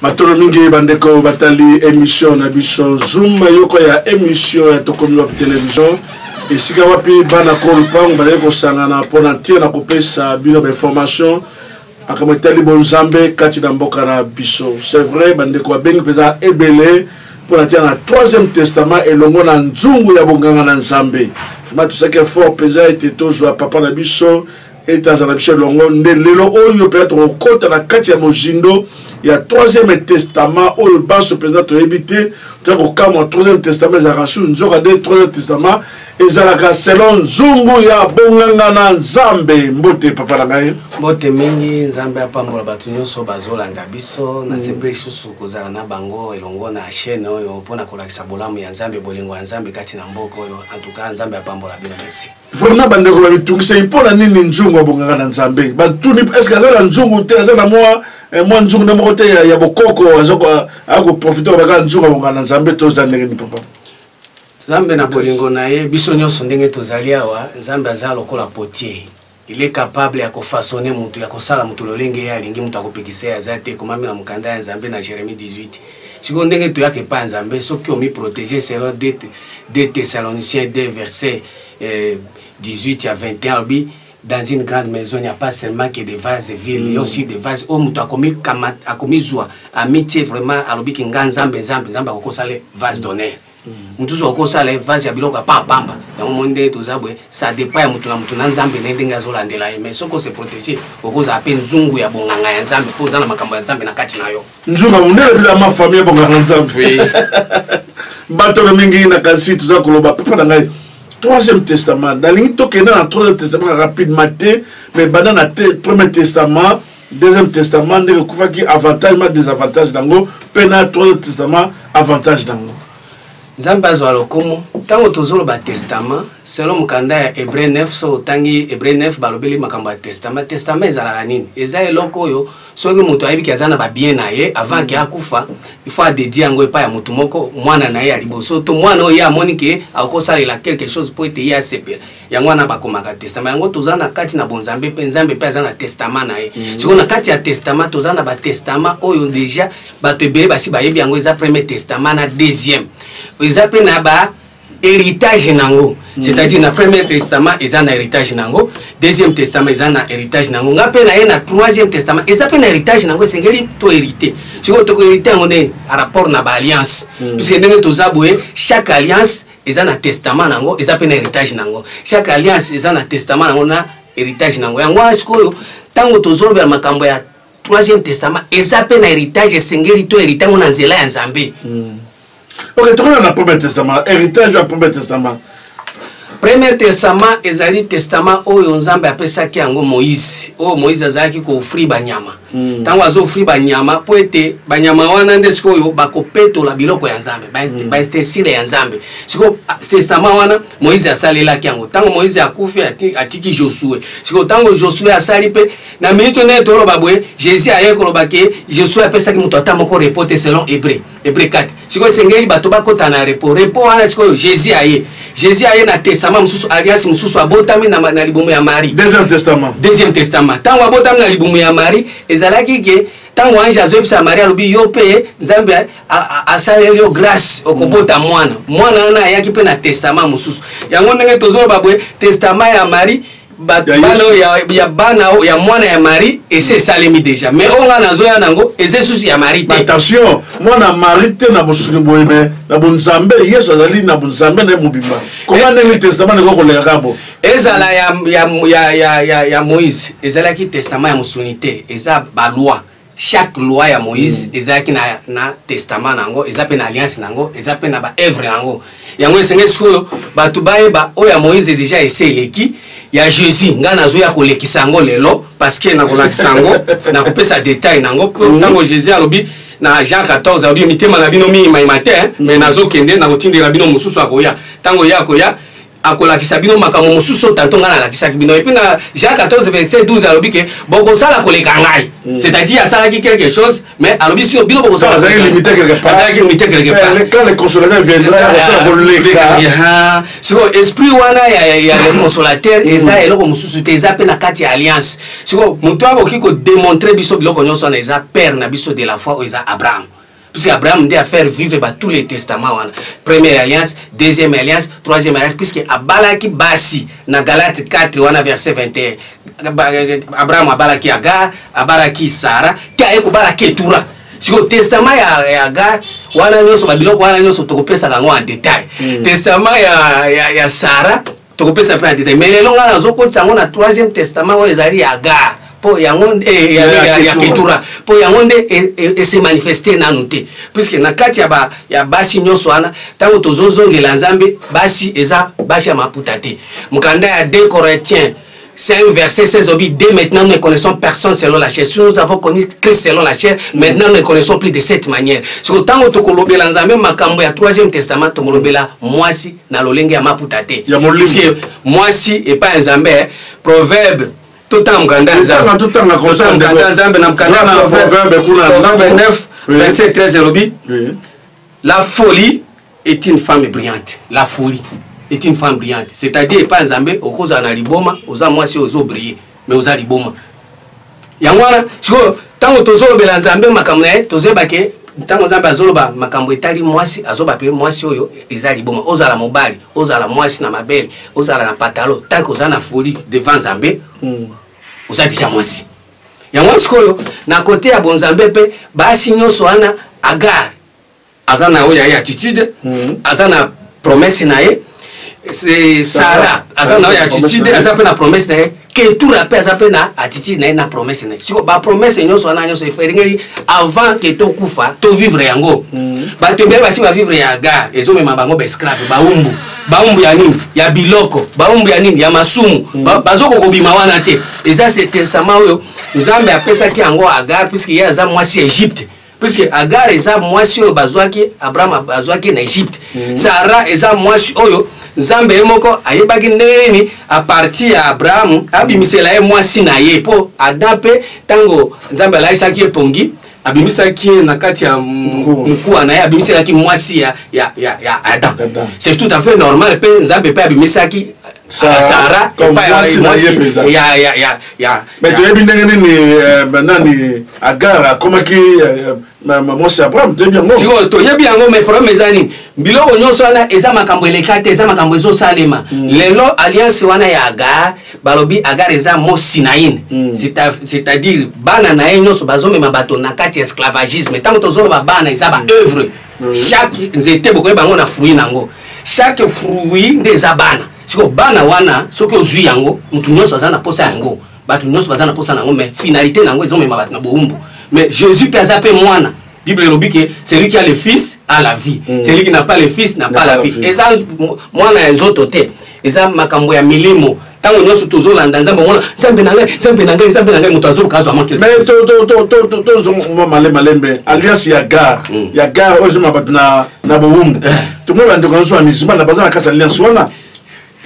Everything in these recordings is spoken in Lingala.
matolo mingi bandeko batali emission na biso zoom yoko ya emission ya tokomi wapi television esika wapi bana ko lupango bazali kosangana mpo na ntina na kopesa bino bainformation makambo etali bonzambe kati na mboka na biso c'est vrai bandeko babengi mpenza ebele mpo na ntina na troisième testament elongo na nzungu ya bonganga na nzambe vraimen tosaki effort mpenza ete tozwa papa na biso ete azala biso elongo nde lelo oyo mpenza tokokota na kati ya mozindo ya troisième testament oyo banso mpenza toyebi te toya kokamwa troisième testament ezalaka su nzoka nde troisième testament ezalaka selon nzungu ya bonganga na nzambe mbote papa na ngai mbote mingi nzambe apambola bato nyonso bazolanda biso mm. nasepeli lisusu kozala na bango elongo na chaîne oyo mpo na kolakisa bolamu ya nzambe bolingo ya nzambe kati na mboka oyo en tout cas nzambe apambola bino merci vraiment bandeko bamitungisaki mpo na nini nzungu abongaka na nzambe batuni estce aza na nzungu te aza na mwa eh, mwa nzungu nde moko te ya bokoko akoprofite oyo bakaka nzungu abongaka na nzambe toza ndenge ni papa nzambe na bolingo na ye biso nyonso ndenge tozali awa nzambe aza lokola potier il est capable ya kofasone motu ya kosala motu lolenge ye alingi motu akopekisa ye aza te ekomami na mokanda ya nzambe na jérémie 18 sikoyo ndenge toyaka epai ya nzambe soki omiprotege selon 2 thessalonicien 2 verset eh, 18 ya 21 alobi dans une grande maison il n'y a pas seulement que des vases vides il y a aussi des vases oyo moto akomizwa amitie vraiment alobi ki nga nzambe nzambe nzambe akokosala vase d'honneur mosusu akosala vase ya biloko ya pampamba yango moni ndenge toza boye ça dépend ya moto na moto na nzambe na ye ndenge azolandela ye mais soki ose protege okozala mpe nzungu ya bonganga ya nzambe mpo oza na makambo ya nzambe na kati na yo nzunga monene bila ma famille bonganga nzambe bato na mingi na kasi toza koloba papa na ngai troisième testament nalingi tokenda na troisième testament rapidement te mais banda na te premier testament deuxième testament ndenge ekufaki avantage ma désavantage nango mpe na troisième testament avantage nango nzambe azwa lokumu ntango tozoloba testament selo mokanda ya hebreu 9 so otangi hebreu 9 balobeli makambo ya testament testament ezalaka nini eza eloko oyo soki moto ayebi ke aza na babien na ye avant ke akufa il faut adedie yango epai ya motu moko mwana na ye ya liboso to mwana oyo ye amoni ke akosalela quelque chose mpo ete ye asepela yango wana bakomaka testament yango toza na kati na bonzambe mpe nzambe mpe aza na testament na ye mm. sikoyo na kati ya testament toza na batestament oyo deja bato ebele basi bayebi yango eza premier testament na deuxième eza mpe na ba héritage nango mm. c'est-à-dire na premier testament eza na héritage nango deuxième testament eza na héritage nango nga mpe na ye na troisième testament eza mpe na héritage nango esengeli to hérité sikoyo toko hérité yango nde par rapport na baalliance mm. puisque ndenge toza boye chaque alliance eza na testament nango eza mpe na héritage nango chaque alliance eza na testament nango na héritage nango yango wana sikoyo ntango tozolobela makambo ya troisième testament eza mpe na héritage esengeli to hérité yango na nzela ya nzambe mm. ok tokona na premier testament héritage ya premier testament premier testament ezali testament oyo nzambe apesaki yango moïse oyo moïse azalaki koofri banyama ntango hmm. azoofri banyama mpo ete banyama wana nde sikoyo bakopetola biloko ya nzambe baestesile hmm. ya nzambe sikoyo ah, testament wana moïse asalelaki yango ntango moïse akufi atiki josue sikoyo ntango josue asali mpe na minute nde toloba boye jésus aye koloba ke josue apesaki moto ata moko repote selon hébreu ebrekati sikoyo esengeli bato bakota na repo repo wana sikoyo jésus aye jésus aye na testament mosusu alliance mosusu abotami na, na libumu ya marie deuxième testament deuxième testament ntango abotami na libumu ya marie ezalaki ke ntango ange azoyebisa marie alobi yo mpe nzambe asaleli yo grâce okobota mwana mwana wana ayaki mpe na testament mosusu yango ndenge tozoloba boye testament ya marie bana oyo ya bana oyo ya mwana ya mari esi esalemi deja mais oyo ngai nazoya nango eza esusu ya mari te attention mwana ya mari te na bosuni boye me na bonzambe yesu azali na bonzambe na ye mobimba koma eh. ndenge testament ekoki koleka kaka bo ezala ya, ya, ya, ya, ya, ya moïse ezalaki testament ya mosuni te eza baloi chaque loi ya moïse mm. ezalaki na, na testament na yango eza mpe na alliance na yango eza mpe na baevre na yango yango esengeli sikoyo bato bayeba oyo ya moïse déjà ese eleki ya jésus ngai nazoya kolekisa yango lelo parceke nakolakisa yango nakopesa detail na yango mpo mm. ntango jésus alobi na jean 14 alobi mitema na bino miyimayima te me nazokende nakotindela bino mosusu akoya ntango ye akoya akolakisa bino makambo mosusu tanto ngai nalakisaki bino epuis na jean 14 verset 12 alobi ke bokosala koleka ngai mm. c'est-à-dire asalaki quelque chose mais alobi sio bino bokosalazalaki limite quelque part sikoyo esprit wana ya le consolateur mm. eza eloko mosusu te eza mpe na kati ya alliance sikoyo moto akoki kodemontre biso biloko nyonso wana eza père na biso de la foi oyo eza abraham puisque abraham nde afaire vivre ba tous les testament wana première alliance deuxième alliance troisième alliance puisque abalaki basi na galate 4 wana verset 21 abraham abalaki agar abalaki sara te aye kobala ketura sikoyo testament ya, ya agar wana nyonso babiloko wana nyonso tokopesaka yango en détail mm. testament ya, ya, ya sara tokopesa mpe na detail mais lelo ngai nazokotisa yango na troisième testament oyo ezali ya gare mpo yango eh, ya ketura mpo yango nde e, e, ese manifeste nanu te puiske na kati ya basi nyonso wana ntango tozozongela nzambe basi eza basi ya maputa te mokanda ya de corintien C'est un verset, c'est Zobi. Dès maintenant, nous ne connaissons personne selon la chair. Si nous avons connu Christ selon la chair, maintenant nous ne connaissons plus de cette manière. Si autant que Tokolobela Nzambe, Makambo, ya troisième testament, Tokolobela, moi si, na lolenge ya maputate. Ya molim. Parce que moi si, et pas Nzambe, hein. proverbe, tout en mkanda Nzambe. Tout en mkanda Nzambe, na mkanda na proverbe, kuna. Proverbe 9, verset 13, Zobi. La folie, est une femme brillante la folie est une femme brillante c'est-à-dire epai nzambe okozala na liboma oza mwasi oyo ozobrille mais oza liboma yango wana sikoyo ntango tozolobela nzambe makambo na ye tozoyeba ke ntango nzambe azoloba makambo etali mwasi azoba mpe mwasi oyo eza liboma ozala mobali ozala mwasi na mabele ozala na patalo ntango oza na foli devant nzambe hmm. oza deja mwasi yango sikoyo na kote ya bonzambe mpe basi nyonso wana agare aza na oyo ya ye attitude aza na promesse na ye sara aza na oyo attitude aza mpe na promesse na ye ketura mpe aza mpe na attitude na ye na promesse na ye siko bapromesse nyonso wana nyonso elingeli avant ke tokufa tovivre yango mm. bato ebele basi bavivre ya gare ezomema bango baesclave baumbu baumbu ya nini ya biloko baumbu ya nini ya masumu mm. bazoko kobima wana te eza se testament oyo nzambe apesaki yango agare puiske ye aza mwasi ya egypte puisque agar eza mwasi oyo bazwaki abraham azwaki na egypte mm -hmm. sara eza mwasi oyo nzambe ye moko ayebaki ndenge nini aparti ya abrahamu abimisela ye mwasi na ye mpo adam mpe ntango nzambe alaisaki ye pongi abimisaki ye na kati ya mokuwa na ye abimiselaki mwasi ya, ya, ya, ya adam c'est tout à fait normal mpe nzambe mpe abimisaki sahara mais toyebi ndenge nini euh, nani agar akomaki euh, mwasi abraham toyebi yango sikoyo toyebi yango mais problème eza nini biloko nyonso wana eza makambo eleka te eza makambo ezosalema mm. lelo alliance wana ya agar balobi agar eza mo sinaine mm. c'est-à-dire bana na ye nyonso bazomema bato na kati ya esclavagisme ntango tozoloba bana eza baœuvre mm. mm. chaque nzete bokoyeba yango na fruit na yango chaque fruit nde eza bana siko bana wana soki ozwi yango motu nyonso aza na mposa yango bato nyonso baza na mposa na yango mais finalité na yango ezomema bato na bowumbu mais jésus mpe aza mpe mwana bible elobi ke celui qui a le fils a la vie mm. celui qui n'a pas le fils n'a pas la vie eza mwana ya nzoto te eza makambo ya milimo ntango nyonso tozolanda nzambe omona nzambe na ngai nzambe na ngai nzambe na ngai moto azoluka azwa mwa tozongoma male malembe alliance ya gare mm. ya gare oyo ezoma bato na bowumbu eh. tomoni bandeko nyonso ya musulman na baza na kati alliance wana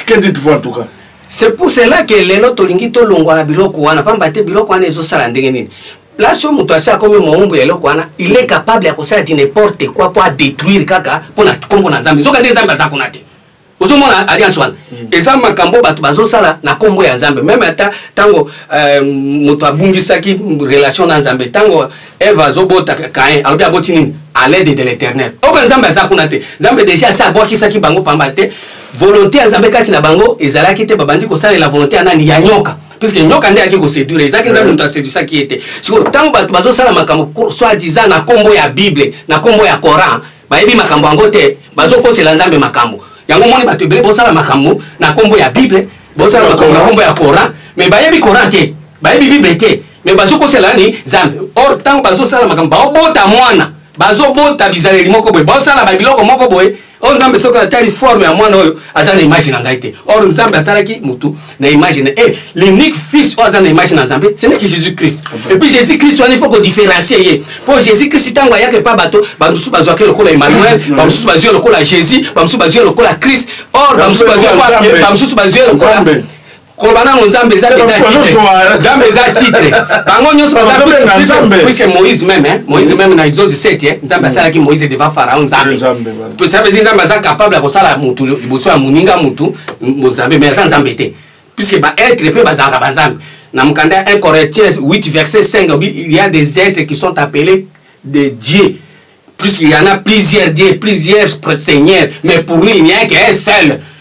que dites-vous en tout cas c'est pour cela que lelo tolingi tolongwa na biloko wana mpamba te biloko wana ezosala ndenge nini place oyo moto asi akomi mowumbu ya eloko wana il est capable ya kosala di n'importe quoi mpo adétruire kaka mpo na nkombo na nzambe nzoka nde nzambe aza kuna te ozomona alliance wana mm. eza makambo bato bazosala na nkombo ya nzambe meme ata ntango euh, moto abungisaki relation na nzambe ntango eve azobota kain alobi aboti nini à l'aide de l'éternel oyo nzambe aza kuna te nzambe déjà asi abwakisaki bango pamba te volonté ya nzambe kati na bango ezalaki te babandi kosalela volonté ya nani ya nyoka puiske nyoka nde ayaki koseduire ezaki nzambe moto asedusaki ye te sikoyo ntango bato bazosala makambo soit disant na nkombo ya bible na nkombo ya coran bayebi makambo yango te bazokosela nzambe makambo yango omoni bato ebele bosala makambo na nkombo ya bible bosala makambo na nkombo ya coran me bayebi coran te bayebi bible te me bazokosela ni nzambe or ntango bazosala makambo baobota mwana bazobota bizaleli moko boye bosala babiloko moko boye oyo nzambe soki atali forme ya mwana oyo aza na image na ngai te or nzambe asalaki motu na image na eh, l'unique fils oyo aza na image na nzambe ce n'est que jésus christ et puis jésus christ wana il faut kodifferencie ye mpo jésus christ ntango ayaka epa bato bamosusu bazwaki lokola emmanuel bamosusu bazwi lokola jésus bamosusu bazwi lokola christ or bamosusu bazwi bamosusu bazwi lokola koloba nango nzambe eza nzambe eza titre bango nyonso bazapuiske moïse meme moïse meme na exode 7 nzambe asalaki moïse devant pharaon nzambe mpe ça veut dire nzambe aza capable ya kosala motu liboso ya moninga motu bonzambe mais aza nzambe te puisque baêtre mpe bazalaka banzambe na mokanda ya 1 corinthiens 8 verset 5 il y a des êtres qui sont appelés de dieu puisqu'il y en a plusieurs dieux plusieurs seigneurs mais pour lui il n'y a qu'un seul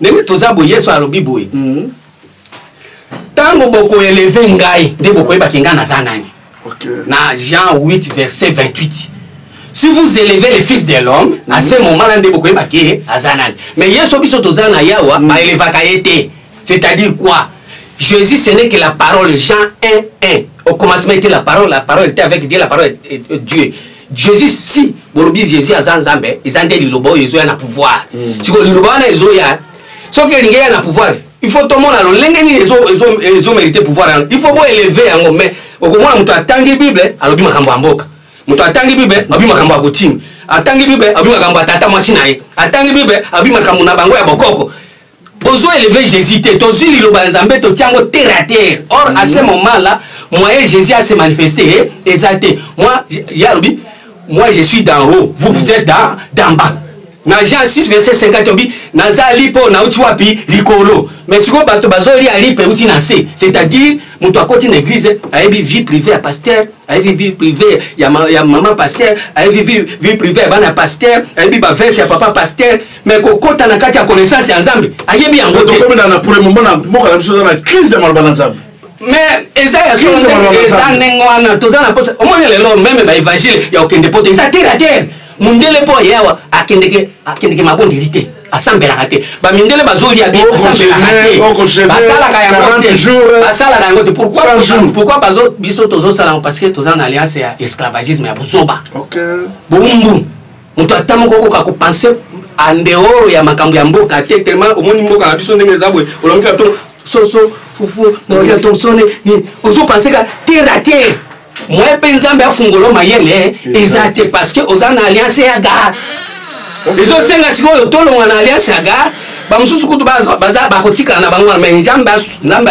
ndenge toza boye yesu alobi boye ntango mm. bokoeleve ngai nde bokoyebaki ngai naza nani na jean 8 verset 28 si vous élevez le fils de l'homme mm. à ce moment là nde bokoyebaki ye aza nani mais yesu biso toza na yawa mm. baelevaka ye te c'est à dire quoi jésus ce n'est que la parole jean 1 1 au commencement était la parole la parole était avec dieu la parole est, est, est dieu jesus si bolobi jesus aza nzambe eza nde liloba oyo ezoya na pouvoir mm. sikoyo liloba wana ezoya soki elingi ya na pouvoir il faut tomona lolenge nini ezomerite pouvoir yango il faut boeleve yango mais okomona moto atangi bible alobi makambo ya mboka moto atangi bible alobi makambo ya kotime atangi bible alobi makambo ya tata mwasi na ye atangi bible alobi makambo na bango ya bokoko bozo eleve jésus te tozwi liloba ya nzambe totia yango terre à terre or à ce moment là moyen jésus ase manifeste eh, eza te moi ye alobi moi je suis d'en haut vous vous êtes d'en bas na jean 6 verset 50 obi nazali mpo nauti wapi likolo me sikoyo bato bazolia lipa euti na se c'est-à-dire moto akoti na église ayebi vie privée ya pasteur ayebi vie privée ya, ma, ya mama pasteur ayebi vie, vie privée ya bana pasteur ayebi baveste ya papa pasteur mais kokota na kati ya connaissance ya nzambe ayebi yango te tokomi na pour le moment na mboka na biso eza na crise ya maloba na nzambe mais eza ya eza ndenge wana toza na posa omoni lelo meme baevangile ya kokende poto eza terre a terre mundele mpo aye awa akendeke akendeke mabondeli te asambelaka te bamindele bazolia bien asambelaka te basalaka yango te basalaka yango te pourquoi bazo biso tozosalango parce que toza na alliance ya esclavagisme ya buzoba boumbu moto ata moko okoka kopense andeoro ya makambo ya mboka te telema omoni mboka na biso ndenge eza boye olongi ato soso fufu naolia tomsone nini ozopense ka terre a terre moye mpe nzambe afungolo mayele eh, eza te parce que oza na alliance ya gare ezosenga sikoyo tolonga na alliance ya gare bamosusu kutu bakotikala na bango wana mai nzambe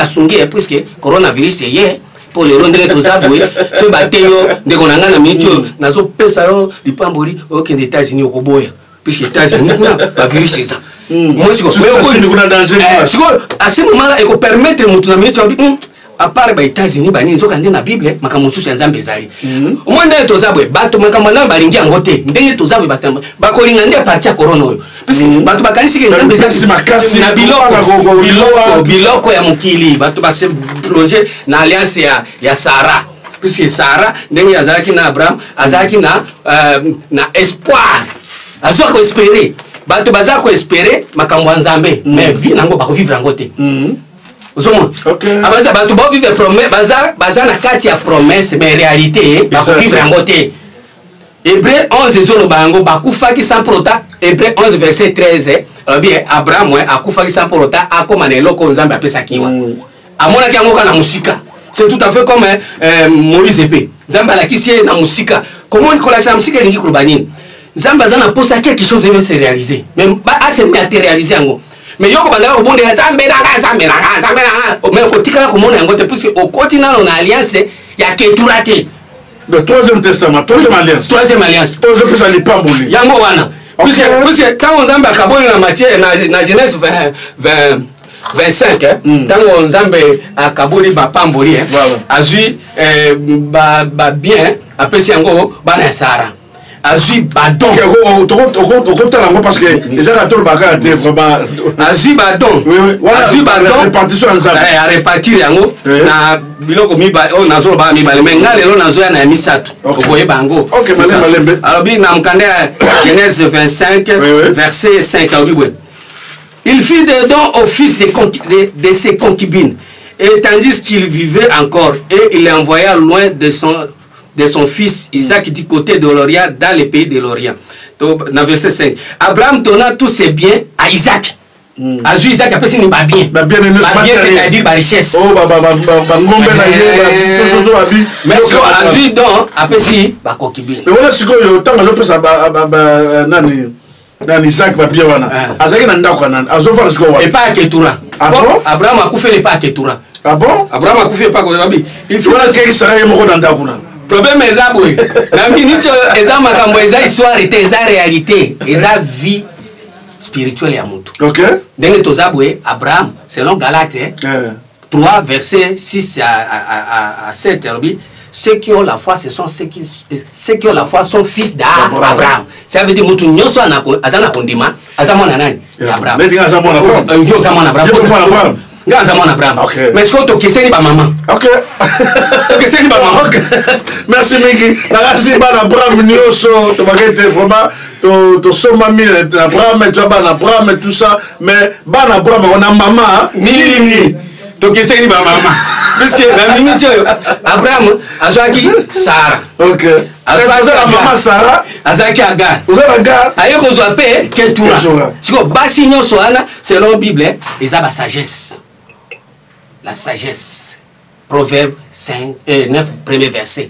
asungi ye eh, puiske coronavirus eye mpo lelo ndenge toza boye soki bate yo ndeko na ngai na miniti oyo nazopesa yo lipamboli okende états-unis okoboya puisque états-unis kuna bavirus eza sikoyo asi momala ekopermettre moto na miniti abi apart ba états-unis banini nzoka nde na bible makambo mosusu ya nzambe ezali hmm. omoi ndenge toza boye bato makambo nayo balingi yango te ndenge toza boye bakolinga nde parti ya corona oyo parce que bato bakanisi ke nzambe eza makasi na biloko biloko biloko ya mokili bato base plonge na alliance ya, ya sara puisque sara ndenge azalaki na abraham azalaki na, uh, na espoir azwa koespere bato baza koespere makambo ya nzambe mm. mais vie nango bakovivre yango te mm. ozomona okay. abaza ah, bato baovivre baza, baza na kati ya promesse mais réalité bakokivre yango te Hebreu 11 ezoloba yango bakufaki sans prota Hebreu 11 verset 13 alobi eh, Abraham eh, akufaki sans prota akoma na eloko Nzambe apesaki wa mm. amonaki yango kaka na mosika c'est tout à fait comme eh, eh Moïse epe Nzambe alakisi ye na mosika komoni kolakisa na mosika elingi koloba nini Nzambe aza na posa quelque chose ebe se réaliser mais ase matérialiser yango mais yoko bandaka kobondela Nzambe na nga Nzambe na nga Nzambe na nga mais okotikala komona yango te puisque okoti nano na alliance ya ketura te le troisième testament troisième alliance troisième alliance oyo ezopesa lipamboli yango wana puiske ntango nzambe akaboli na matie na genèse 20 25 eh? mm. ntango nzambe akaboli bapamboli eh? azwi eh, babien apesi yango bana ya sara azwi badon okotala yango parce que eza na tolobaka ya te vraiment azwi badon azwi badon ya repartir yango na biloko oyo nazolobaka mibale mai ngai lelo nazoya na ya misato okoyeba yango alobi na mokanda ya genèse 25 verset 5 alobi boye il fit des dons au fils de, de, de ses concubines et tandis qu'il vivait encore et il l'envoya loin de son de son fils Isaac du côté de l'Orient, dans le pays de l'Orient. Donc, dans verset 5, Abraham donna tous ses biens à Isaac. Mm. azwi isaac apesi ni babien babien c'est-à-dire barichesse oh, bangombe na ye azwi don apesi bakoki bini wana sikoyo ntango azopesa nani nani isaac papie wana ah. azalaki na ndako anani azofanda sikoyo wana epai ya ketura ah abraham akufeli epai ya ketura ah bon abraham akufi epai koyabi wana atikaki sara ye moko na ndako na problème eza boye na minute oyo eza makambo eza histoire te eza réalité eza vie spirituelle ya motu okay. ndenge toza boye abraham selon galate eh. 3 verset 6 à, à, à, à 7 alobi ceux qui ont la foi ce sont ceux qui, ceux qui ont la foi sont fils d'abraham ça veut dire moto nyonso aza na kondima aza mwana nani ya abraham aza mwana abraham nga aza mwana abraham mais sikoyo tokeseni bamama tokeseni bamama merci mingi nakasi bana abraham nyonso tobakete vraiment to tosombami na brame tya bana brame tout ça mais bana brame yango na mama nini tokeseni bamama puiske na miniti oyo abraham azwaki sara mama sara azalaki agar aye kozwa mpe ketura sikoyo basi nyonso wana selon bible eza basagesse la sagesse proverbe 9 euh, premier verset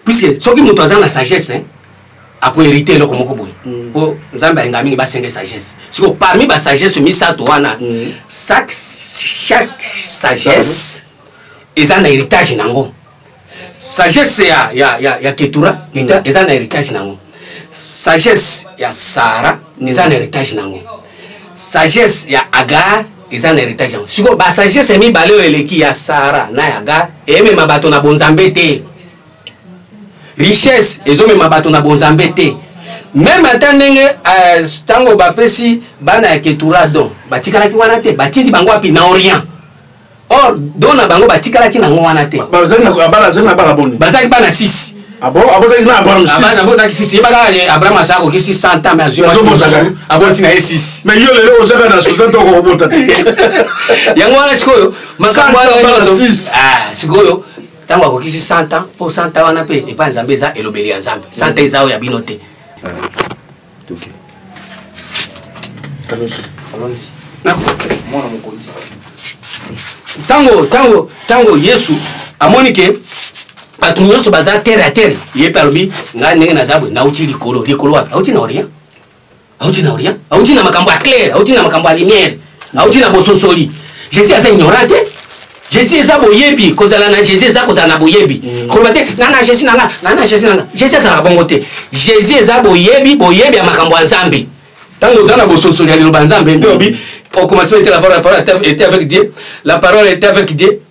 puisque soki moto aza na sagesse hein, akoherite eloko moko boye mm. mpo nzambe alinga mingi basenge sagesse siko parmi basagesse misato wana mm. chaque sagesse eza na héritage nango sagesse ya, ya, ya, ya ketura mm. eza na héritage nango sagesse ya sara eza na héritage nango sagesse ya agar eza na heritage yango sikoyo basagesse mibale oyo eleki ya sara na ya gar emema bato na bonzambe te richesse ezomema bato na bonzambe te meme ata ndenge ntango euh, bapesi bana ya ketura don batikalaki wana te batindi bango wapi na orient or don na bango batikalaki nango wana te bazalaki bana boni bazalaki bana 6 abotaki ah ah, na abraham abotaki sisi yebaka abraham asa akoki 600 ans mais azwi aboti na ye sisi mais yo lelo ozaka na 60 oko obota te yango wana sikoyo makambo wana ah, sikoyo ntango akoki 600 ans mpo 100 ans wana mpe epai nzambe eza elobeli ya nzambe 100 ans eza oyo ya bino te toke mwana mokonzi ntango ntango ntango yesu amoni ke bato nyonso baza terre ya terre ye mpe alobi ngai ndenge naza boye nauti likolo likolo wapi auti na orient auti na orient auti na makambo ya claire auti na makambo ya lumière auti na bososoli jésus aza ignorant te jésus eza boyebi kozala na jésus eza kozala na boyebi mm. koloba te nga na jésus nanga nga na jésus nanga jésus azalaka bongo te jésus eza boyebi boyebi ya makambo ya nzambe ntango oza na bososoli ya liloba ya nzambe nde obi au commencement était la parole la parole était avec dieu la parole était avec dieu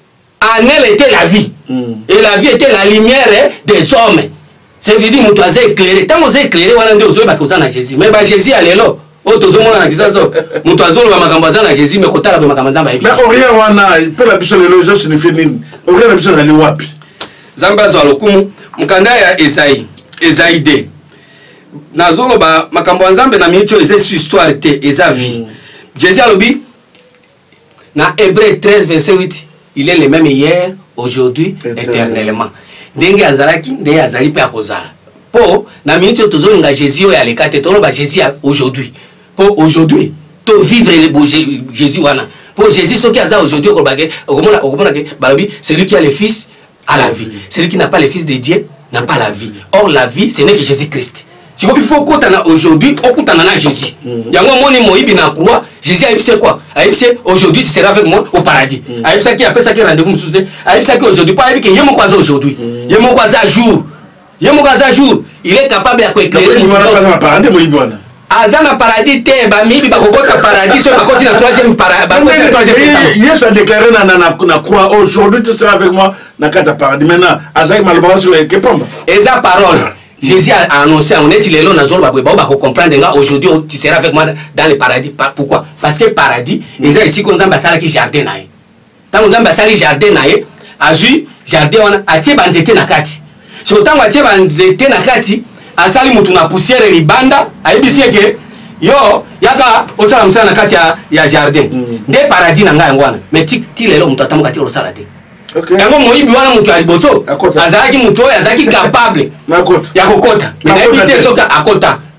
en elle était la vie mm. et la vie était la lumière des hommes c'est veut dire moto aza éclairé ntango oza éclairé wana nde ozoyebaka oza na jésus mais ba jésus ya lelo oyo tozomona na kisaso moto azoloba makambo aza na jésus me kotala mpe makambo nzambe ayebi mais orient wana mpo na biso lelo ezo signifie nini orient na biso ezali wapi nzambe azwa lokumu mokanda ya ezai ezai de nazoloba makambo ya nzambe na miniti oyo eza histoire te eza vie mm. jésus alobi na hébreu 13 verset 8 il est le même hier aujourd'hui éternellement ndenge azalaki ndenge azali mpe akozala mpo na minute oyo tozolinga jésus oyo aleka te toloba jésus ya aujourd'hui mpo aujourd'hui tovivre le bo jésus wana mpo jésus soki aza aujourd'hui okolobake okomona okomona ke balobi celui qui a le fils à la vie celui qui n'a pas le fils de dieu n'a pas la vie or la vie ce n'est que jésus christ siko il faut okutana aujourd'hui okutana na jésus mm. yango omoni moyibi na croix jésus ayebisi ye quoi ayebisi ye aujourd'hui tu seras avec moi au paradis mm. ayebisaki apesaki rendez-vous mosusu te ayebisaki aujourd'hui mpo ayebi ke ye moko aza aujourd'hui mm. ye moko aza jour ye moko aza jour il est capable ya koeclairende moyibi wana aza na paradis te bamiyibi bakokota paradis soki bakoti na troisième yesu adeklare na croix aujourd'hui tu sera avec moi na kati ya paradis maintenant azalaki maloba wana soki eke pamba eza parole jésus a annoncé yango neti lelo nazoloba boye bao bakocomprendre nga aujourd'hui tu sera avec moi dans le paradis pourquoi parce que paradis eza esika nzambe asalaki jardin na ye ntango nzambe asali jardin na ye azwi jardin wana atie banzete na kati siko ntango atie banzete na kati asali motu na poussière libanda ayebisi ye ke yo yaka osala mosala na kati ya, ya jardin mm. nde paradis na ngai yango wana mai ti, ti lelo moto atamboka ti osala te okay. yango moyibi wana moto ya liboso azalaki moto oyo azalaki capable ya kokota me nayebi te soki akota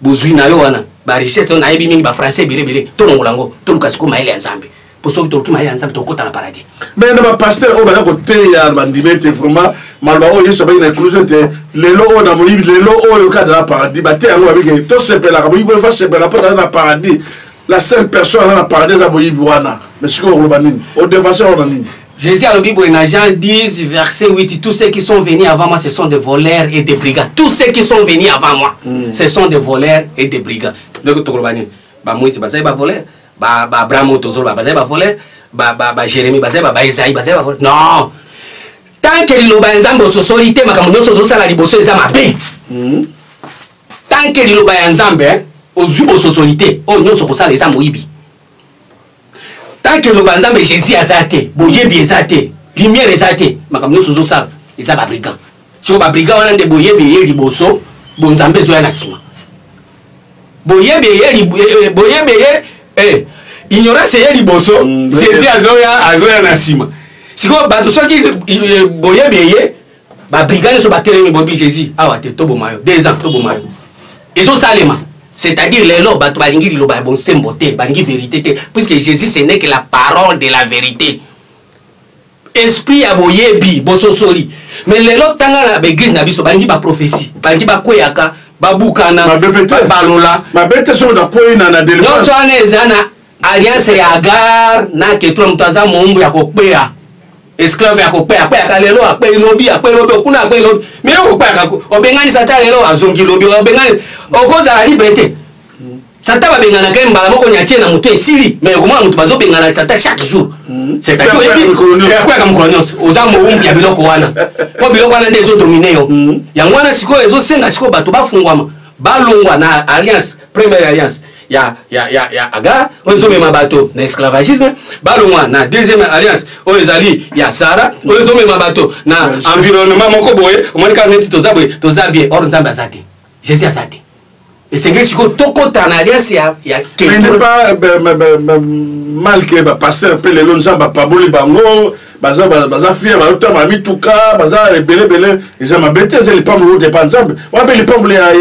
bozwi na yo wana ba richesse na yebi mingi ba français bele bele to longola ngo to luka siko mayele ya nzambe po soki toluki mayele ya nzambe tokota na paradis mais na ba pasteur oyo baza koteya ba ndime te vraiment maloba oyo yesu abaki na ekluse te lelo oyo na moyibi lelo oyo kaka na paradis bateya yango babiki tosepelaka moyibi oyo fa sepela po aza na paradis la seule personne aza na paradis eza moyibi wana mais sikoyo okoloba nini odevance wana nini Jésus alobi boye na Jean 10 verset 8 tous ceux qui sont venus avant moi ce sont des voleurs et des brigands tous ceux qui sont venus avant moi mm. ce sont des voleurs et des brigands donc tokoloba nini ba Moïse bazali ba voleurs ba ba Abraham tozoloba bazali ba voleurs ba ba ba Jérémie bazali ba ba Isaïe bazali ba voleurs non tant que liloba ya Nzambe ososoli te makambo nyonso ozosala liboso eza mabe mm. tant que liloba ya Nzambe ozwi ososoli te oyo nyonso okosala eza moyibi tant que loba nzambe jésus aza te boyebi eza te lumière eza te makambo nyonso ozosala eza babrigand soko babrigand wana nde boyebi eye liboso bonzambe ezoya na nsima boyebi eye eh, eh, boyebi eye eh, ignorance eye liboso mm, jésus azoya azoya na nsima sikoyo bato soki boyebi eye ba brigade nyonso batelemi boyebi jésus awa te toboma yo deux ans toboma yo ezosalema c'est-à-dire lelo bato balingi liloba ya bonsembo te balingi verité te puisque jésus ce n'est que la parole de la vérité esprit ya boyebi bososoli mais lelo tanga na baeglise na biso balingi baprophétie balingi bakweyaka babukana balola nyonso wana eza na alliance ya agar na ketura moto aza moumbu ya kokpeya esclave ya kokpeya akpeyaka lelo akpeyi lobi akpeyi lobi okuna akpeyi lobi me yo kokpeyaka obengani sata lelo azongi lobi obengani okozala libre te sata babenganaka ye mbala moko nyatie na moto esili me okomona moto bazobengana sata chaque jour hmm. cetadirakoyaka mokolo nyonso oza moumbu ya biloko wana mpo biloko wana nde ezodomine yo hmm. yango wana sikoyo ezosenga sikoyo bato bafungwama balongwa na alliance première alliance ya, ya, ya, ya agar oyo ezomema bato na esclavagisme balongwa na deuxième alliance oyo ezali ya sara oyo ezomema bato na environnement moko boye omoni kaka neti toza boye toza bien or nzambe aza te jésus aza te esengeli sikoyo tokota na alliance ya, ya malgre bapasteur mpe lelo nzambe apaboli bango baza baza fier bayoto ba mituka baza ebele ebele eza mabe te eza lipamboli oyo depa nzambe wana mpe lipamboli ya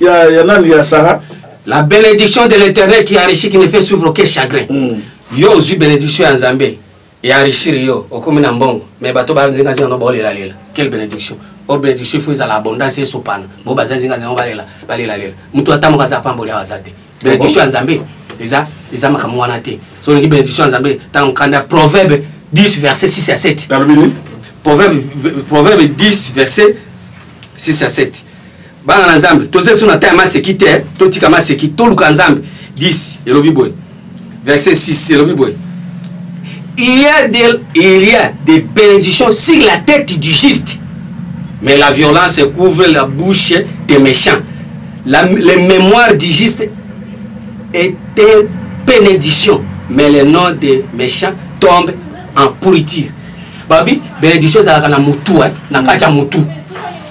ya ya nani ya sara la bénédiction de l'éternel qui enrichit qui ne fait suivre aucun chagrin mm. yo ozwi bénédiction ya nzambe ya enrichir yo okomi na mbongo mais bato banzinganzinga no baolelalela quelle bénédiction o oh, bénédiction ifo ezala abondance esopana bo baza nzinganzinga no balela balelalela moto ata moko aza apamboli awa aza te bénédiction ya nzambe eza eza makambo wana te so olingi bénédiction ya nzambe ntango kanda proverbe 10 verset 6 ya 7 proverbe, proverbe 10 verset 6 ya 7 bana na nzambe toza lisusu na temps ya maseki te totika maseki toluka nzambe 10 elobi boye verset 6 elobi boye il y a des, il y a des bénédictions sur la tête du juste mais la violence couvre la bouche des méchants la, les mémoires du juste est une bénédiction mais le nom des méchants tombe en pourriture babi bénédiction ezalaka na motu eh, na kati ya motu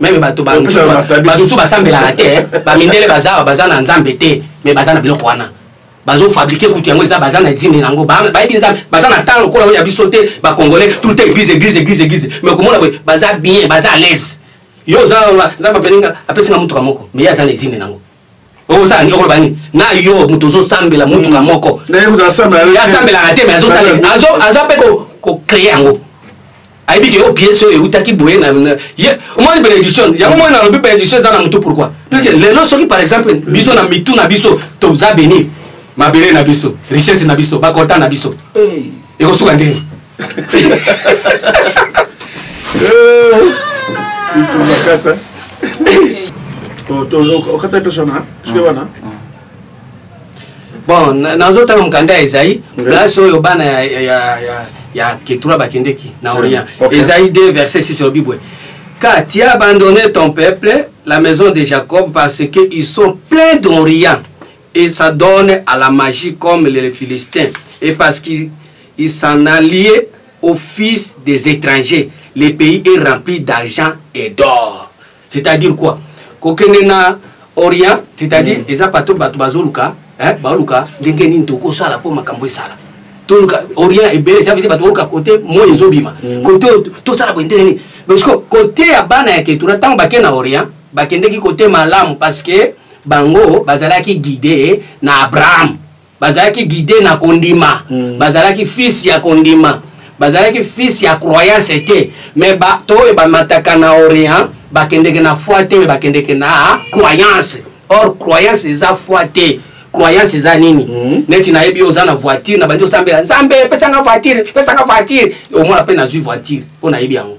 meme bato bamosusu basambelaka te eh. bamindele bazawa baza na nzambe te me baza na biloko wana bazofabrike kutu yango eza baza na zine yango bayebi nzambe baza na ntango lokola oyo ya biso te bacongolais tout le temps église église église église me komona boye baza bien baza à l'aise yo oza nzambe apelinga apesinga motuka moko me ye aza na ezine nango ozala nini okoloba nini na yo moto ozosambela motuka hmm. moko asambelaka te me aza mpe kocree yango ayebi ke yo piese oyo eutaki boye omoni benediction yango moni nalobi benediction eza na motu pourkui puiske hmm. lelo soki par exemple hmm. biso na mitu na biso toza beni mabele na biso richesse na biso bakota na biso ekosuka ndenge itunakata okata mpeso na soki wana bon nazotanga mokanda ya ezai place oyo bana ya ketura bakendeki na orient ezai 2 verset 6 olobi boye car tu as abandonné ton peuple la maison de jacob parce que ils sont pleins d'orient et ça donne à la magie comme les Philistins. Et parce qu'ils s'en allaient au fils des étrangers, le pays est rempli d'argent et d'or. C'est-à-dire quoi Kokenena Orient, c'est-à-dire, mm. eza pato bato bazoluka, hein, baluka, ndenge nini tokosala po makambo esala. Toluka Orient ebele, ça veut dire bato baluka côté moi ezobima. Mm. Côté tosala bo ndenge nini. Parce que côté ya bana ya ketura tango bakena Orient, bakendeki côté malamu parce que bango bazalaki guide na abraham bazalaki guide na kondima mm. bazalaki fils ya kondima bazalaki fils ya croyance te mais bato oyo bamataka na orient bakendeke na foi te me bakendeke na croyance or croyance eza foi te croyance eza nini mm -hmm. neti nayebi oza na voiture na bandi osambela nzambe pesanga voiture pesanga voiture omona mpe nazwi voiture mpo nayebi yango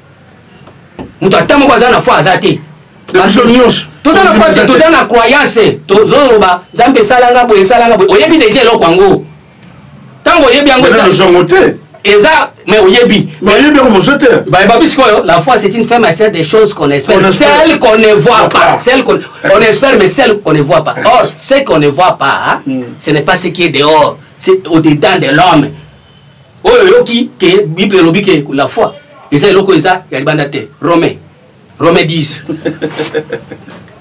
moto ata moko aza na foi aza te biso nyonso toza na foi toza na croyance tozoloba nzambe esalanga boye esalanga boye oyebi deja eloko yango ntango oyebi yango ezango te eza mais oyebi mais oyebi yango mozo te bayebabi sikoyo la foi c'est une femme à des choses qu'on espère celle qu'on ne voit pas celle qu'on on espère mais celle qu'on ne voit pas or ce qu'on ne voit pas hmm. ce n'est pas ce qui est dehors c'est au-dedans de l'homme oyo oyoki ke bible elobi ke la foi eza eloko eza ya libanda te romain romain 10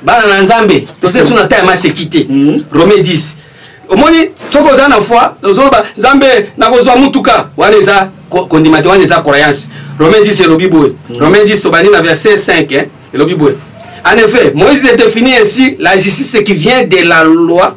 bana na nzambe toza esu na ta ya maseki te mhm. romain 10 omoni soki oza na foi ozoloba nzambe nakozwa motuka wana eza kondima te wana eza croyance romain 10 elobi boye mhm. romain 10 tobandi na verset 5 eh, elobi boye en effet moïse définit ainsi la justice qui vient de la loi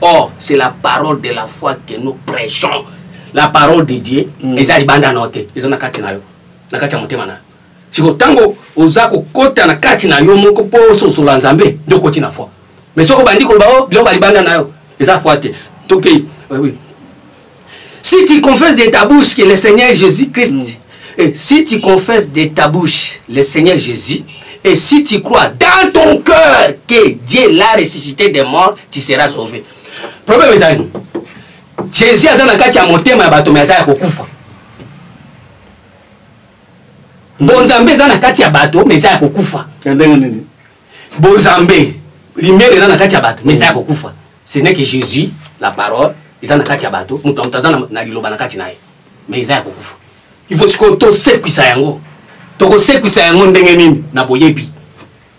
or c'est la parole de la foi que nous prêchons la parole de dieu mm. eza libanda nao te eza na kati na yo na kati ya motema na yo siko ntango oza kokota na kati na yo moko mpo ososola nzambe nde okoti na foi mais soki obandi koloba o oh, biloko balibanda na yo eza foi te tokei oui. Si tu confesses de ta bouche que le Seigneur Jésus-Christ, mm. et si tu confesses de ta bouche le Seigneur Jésus, et si tu crois dans ton cœur que Dieu l'a ressuscité des morts, tu seras sauvé. Problème est nous. Jésus a dans kati ya motema ya bato mais aza ya kokufa. Bonzambe eza na kati ya bato mais eza ya kokufa. Ndenge nini? Bonzambe limere eza na kati ya bato mais eza ya kokufa. ce n'est que jésus la parole eza na kati ya bato moto na moto aza na liloba na kati na ye mais eza ya kokufa il faut sikoyo tosekwisa yango tokosekwisa yango ndenge nini na boyebi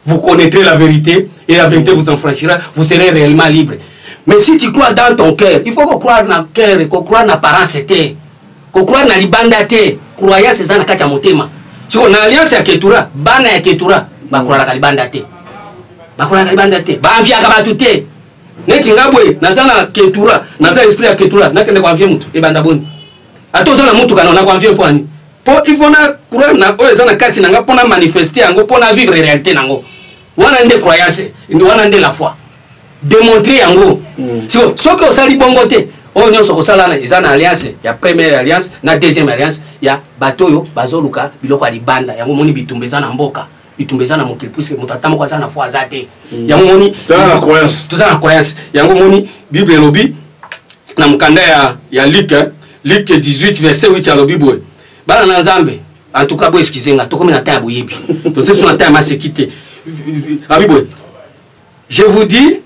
vous connaîtrez la vérité et la vérité vous enfranchira vous serez réellement libre mais si tu crois dans ton cœur il faut ko croire na cœur ko croire na parence te Kocroire na libanda te, croyance eza na kati ya motema. Siko na alliance ya Ketura, bana ya Ketura bakroiraka libanda te. Bakroiraka libanda te. Baanviaka bato te. Neti nga boye naza na Ketura, naza esprit ya Ketura, nakende koanvie motu ebanda boni. Ata oza na motuka na nakoanvie mpo ani. Mpo il faut na croire na oyo eza na kati na nga mpo na manifeste yango mpo na vivre réalité na yango. wana nde croyance wana nde la foi demontre yango mm. so, soki osali bongo te oyo nyonso kosala eza na alliance ya première alliance na deuxième alliance ya bato oyo bazoluka biloko ya libanda yango omoni bitumba eza na mboka bitumba eza na mokili puiske moto ata moko aza na foi aza te mm. yango omoni toza na croyance yango omoni bible elobi na mokanda ya, ya luke luke 18 verset 8 alobi boye bana na nzambe en tout cas bo excuse nga tokomi na temps ya boyebi tosi so na temps ya maseki te abi boye je vous dis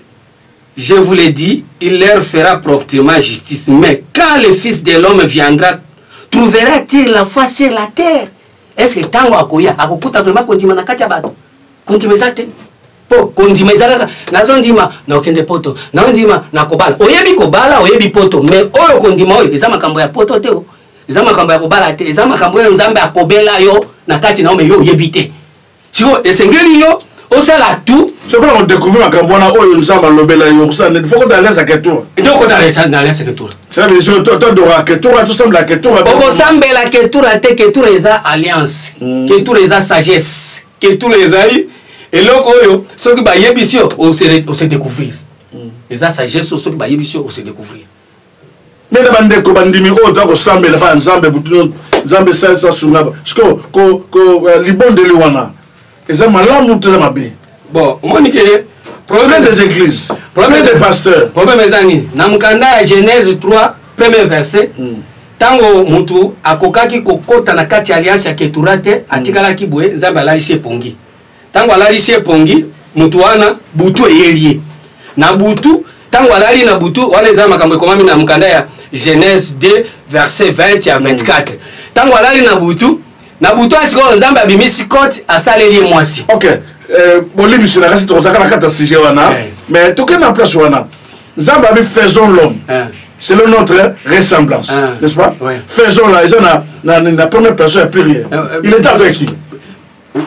je vous le dis il leur fera promptement justice mais quand le fils de l'homme viendra trouvera-t-il la foi sur la terre est ce que ntango akoya akokuta vraiment kondima na kati ya bato kondima eza te mpo kondima eza kaka nazondima nakende poto naondima nakobala oyebi kobala oyebi poto mais oyo kondima oyo eza makambo ya poto te eza makambo ya kobala te eza makambo oyo nzambe akobela yo na kati na yo me yo oyebi te sikoyo esengeli yo osala tout soki nako découvrir makambo wana oyo nzambe alobela yo kosala fo kota alesa ketura nde okota na alesa ketura todora ketura tosambela ketura okosambela ketura te ketura eza alliance hmm. ketura eza sagesse ketura ezali eloko oyo soki bayebisi yo ose découvrir hmm. eza sagesse oyo soki bayebisi yo ose découvrir ndenge bandeko bandimi oyo toza kosambela bana nzambe butu nzambe esalisa sunga siko eh, libondeli wana eza malamu to eza mabe bon omoni ke problème des églises problème des pasteurs problème eza nini na mokanda ya genèse 3 premier verset hmm. ntango motu akokaki kokɔta na kati ya alianse ya ketura te atikalaki boye nzambe alalisi epongi ntango alalisi ye pongi moto wana butu eyeli ye na butu ntango alali na butu wana eza makambo ekomami na mokanda ya genèse 2 verset 20 ya 24 ntango alali na butu na butu ya sikoyo nzambe abimisi kote asaleli ye mwasi ok eh, bolimbisi na kasi tokozaka na kati ya sujet wana eh. mais tokende na place wana nzambe abi faisons l'homme eh. selon notre ressemblance n'est-ce pas faisons la eza na première personne ya pluriel il est avec qui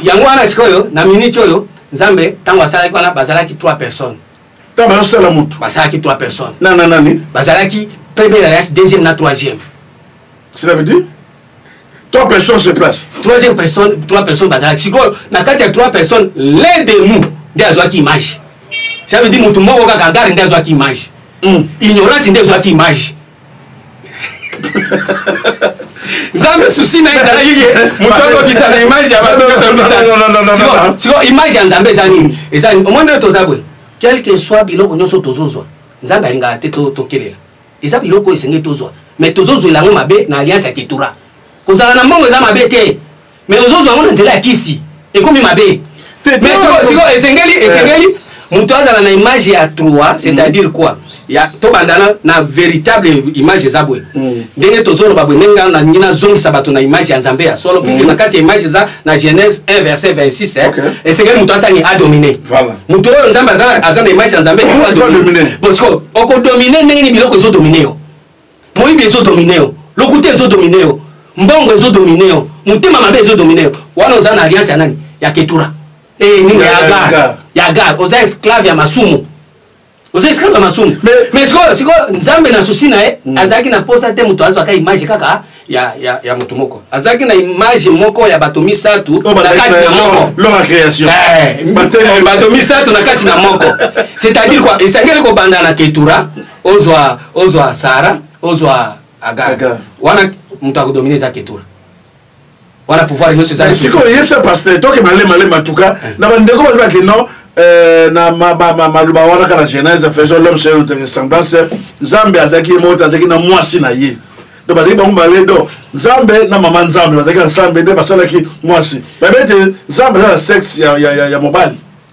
yango wana sikoyo na minute oyo nzambe ntango asalaki wana bazalaki 3 personnes ntango bazosala motu basalaki 3 personnes na na nani bazalaki première alliance deuxième na troisième cela veut dire trois personnes se place troisième personne trois personnes bazalaki sikoyo na kati ya trois personnes l'un de nous nde azwaki image ça veut dire motu moko kaka gare nde azwaki image hmm. ignorance nde ezwaki image nzambe susi na ye ezalaki ye moto akokisa na image ya bato sikoyo image ya nzambe eza nini eza nini omoni nde toza boye quelque soit biloko nyonso tozozwa nzambe alingaka te tokelela eza biloko oyo esengeli tozwa mais tozozwela yango mabe na alliance ya ketura kozala na mbongo eza mabe te mais ozozwa yango na nzela ya kisi ekomi mabe sikoyo esengeli eh. esengeli moto azala na image ya trois c'est-à-dire mm. quoi ya tobanda na, na véritable image eza boye mm. ndenge tozoloba boye ndenge ngai nalingi nazongisa bato na image ya nzambe ya solo puisque mm. na kati ya image eza na genèse 1 verset 26 eh, okay. esengeli moto asangi adomine voilà. moto oyo nzambe aza, aza na image ya nzambe adomine bosiko okodomine ndenge ni biloko ezodomine yo moyibi ezo domine yo lokuta ezo domine yo mbongo ezo domine yo motema mabe ezo domine yo wana oza na alliance ya nani ya ketura e eh, nini ya agar ya agar oza esclave ya masumu oza esclave ya masumu mais sikoyo sikoyo nzambe na susi na ye hmm. azalaki na mposa te moto azwaka image kaka ya, ya, ya moto moko azalaki na image moko ya bato misato oh, na kati na moko eh, bato misato na kati na moko c'est-à-dire quoi esengeli kobanda na ketura ozwa ozwa sara ozwa agar wana moto akodomine eza ketura wana pouvoir nyonso eza sikoyo yebisa pasteur toke malemalemba tuka eh. na bandeko bato bake non eh, na maloba wana kaka na genèse faisons l'homme selon notre ressemblance nzambe azalaki ye moko te azalaki na mwasi na ye do bazalaki bango mibale do nzambe na mama nzambe bazalaki na nzambe nde basalaki mwasi babe te nzambe aza na sexe ya mobali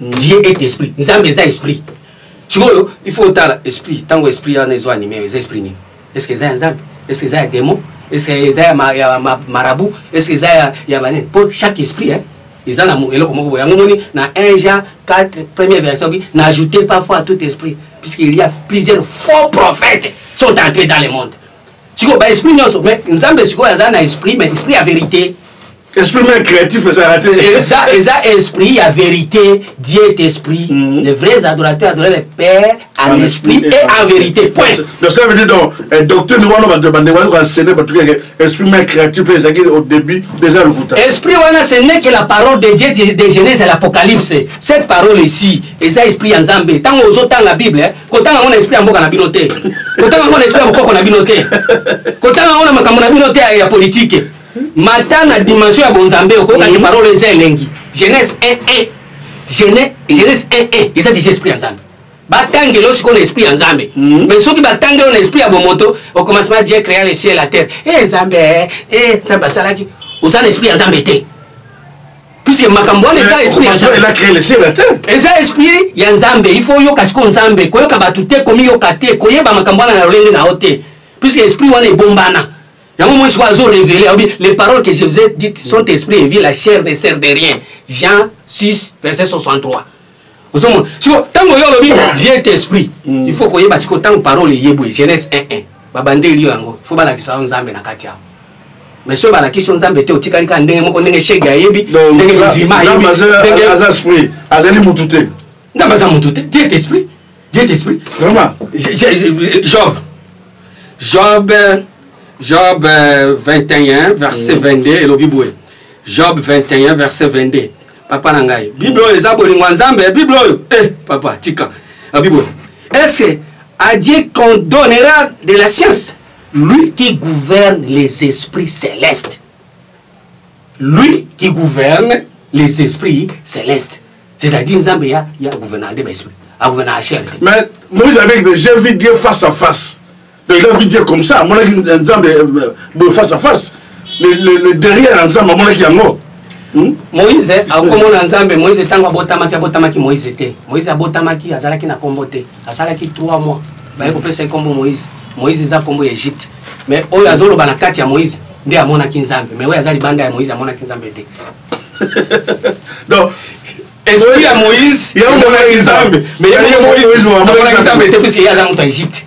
Dieu est esprit. Nzambe eza esprit. Sikoyo il faut otala esprit ntango esprit wana ezo anime eza esprit nini? Est-ce que eza ya Nzambe? Est-ce que eza ya démon? Est-ce que eza ya, ma, ya ma, marabout? Est-ce que eza ya, ya banene? Mpo chaque esprit hein, eza na eloko moko boye yango moni na 1 Jean 4 première verset obi na ajouter parfois à tout esprit puisqu'il y a plusieurs faux prophètes sont entrés dans le monde sikoyo ba esprit nyonso mais nzambe sikoyo aza na esprit mais esprit ya verité esprit meme créatif ezala te eza eza esprit ya vérité dieu est esprit mm -hmm. les vrais adorateurs adorent le père en, en esprit, esprit et en vérité point donc ça veut dire donc eh, docteur niwana bato bande wani koenseigne bato keke esprit meme créatif mpe ezalaki au début déjà lokuta esprit wana ce n'est que la parole de dieu de genèse à l'apocalypse cette parole ici eza esprit ya nzambe ntango ozotanga bible kotanga yango na esprit ya mboka na bino te kotanga yango na esprit ya bokoko na bino te kotanga yango na makambo na bino te ya politike mata na dimension ya bonzambe okoyoka te mhm. parole eza elengi jeunesse 11 jeunesse 11 eza deja esprit ya nzambe batangeli yo sikoyo na esprit ya nzambe mhm. mais soki batangeli yo na esprit ya bomoto au commencement dieu créa le ciel la terre e nzambe e nzambe asalaki oza na esprit ya nzambe te puisque makambo wana eza esprit ya nzambe eza esprit ya nzambe il faut oyoka sikoyo nzambe koyoka bato te komiyoka te koyeba makambo wana na lolenge na yo te puisque esprit wana ebombana yango moi sikoyo azo révélé alobi les paroles que je vous ai dites sont esprit et vie la chair ne sert de rien jean 6 verset 63 ozomona siko ntango yo olobi vieux esprit mm. il faut koyeba siko ntango parole eye boye jeunesse 1 1 babandeli yo yango fo balakisa yo nzambe na kati yango mais soki balakisi yo nzambe te otikali kaka ndenge moko ndenge shege ayebi ndenge mizima ayebiaza esprit azali motu te nzambe aza motu te diet esprit diet esprit vraiment job job job 21 euh, verset 22 mm. elobi boye job 21 verset 22 papa na ngai bible oyo eza bolingo ya nzambe bible oyo eh, papa tika ah, bible oyo est-ce que adieu condonnera de la science lui qui gouverne les esprits célestes lui qui gouverne les esprits célestes c'est-à-dire nzambe ya, ya gouverneur nde baesprit agouverneur ya chair mais moïse avec j'ai vu dieu face à face Mais il a vu Dieu comme ça, mon avis, Nzambe, euh, euh, face à face. Le, le, le derrière Nzambe, mon avis, yango. Hmm? moïse akomona nzambe moïse ntango abotamaki abotamaki moïse te moïse abotamaki azalaki na nkombo te asalaki 3 mois baye kopesa ye nkombo moïse moïse eza nkombo ya egypte mais oyo azoloba na kati ya moïse nde amonaki nzambe mais oyo aza libanda ya moïse amonaki nzambe te donc esprit ya moïse amonaki nzambe mais ye moïse amonaki nzambe te puiske ye aza moto ya egypte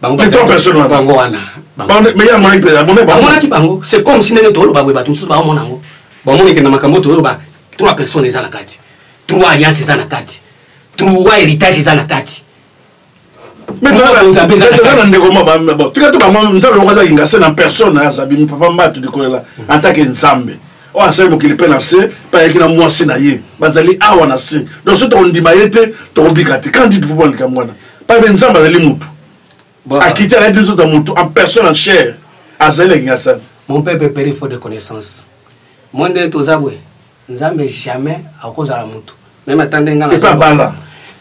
bango bango wana bamonaki bango c'est comme si ndenge toloba boye bato mosusu baomona yango bamoni ke na makambo toyoloba trois personnes eza na kati trois alliance eza na kati trois héritage eza na kati na ndeko moko tika to bango nzambe moko aza kingase na personne azabimi papa mbatu likolela atake nzambe oyo asali mokili mpe na se mpe ayaki na mwasi na ye bazali awa na se donc soki tokondima ye te tokobika te quand dites vous mwa likambo wana pambe nzambe azali mutu akiti alaki nzoto ya mutu en personne en chair azali na kingasani mon peuple peri faut de connaissance moi nde toza boye nzambe jamais akozala mutu meme ata nde ngai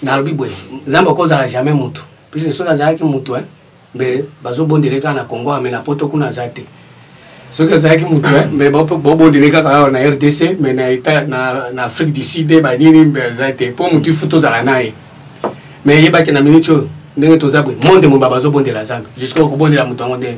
nalobi boye nzambe akozala jamais mutu puisque soki azalaki mutu hein mais bazobondele kaka na congo ame na poto kuna aza te soki azalaki motu mais bobondele kaka awa na rdc mais na etat na afrique du sud eh, banini mbe aza te mpo motu ifu tozala na ye mais yebaki na minute oyo ndenge toza boye monde mobaa bazobondela zambe jusqu'à kobondela moto yango ndenge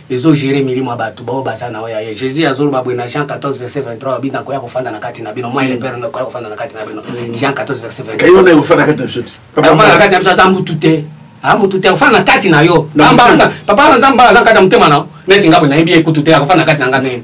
ezo gere milimo ya bato baoyo baza na oyo aye jésus azoloba boye na jean 14 verset 23 alobi nakoya kofanda na kati na bino moi le père nakoya kofanda na kati na bino mm. jean 14 verset 23 kofanda na kati na biso aza mutu te amutu te akofanda na kati na yo papa aza nzambe aza kati ya motema na yo neti ngai boye nayebi ye kutu te akofanda na kati na ngai nini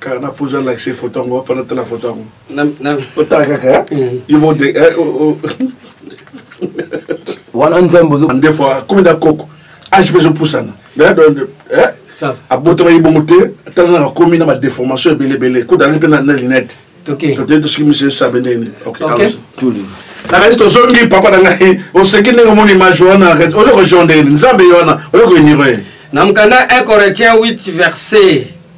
kaka na pozo alakise foto yango wapana tala foto yango otala kaka eh? mm. yobode eh, wana nzembo nde fo akomi na koko age mpe ezopusana eh? abotamaki bongo te tala naka komi na badeformation ebele ebele kotala mpe na linete toteyi tosoki misie sabe ndeni nakati tozongi papa na ngai oseki ndenge omoni image wana oyo kojonde nzambe ye wana oyo koinire na mokanda 1 corinthiens 8 verset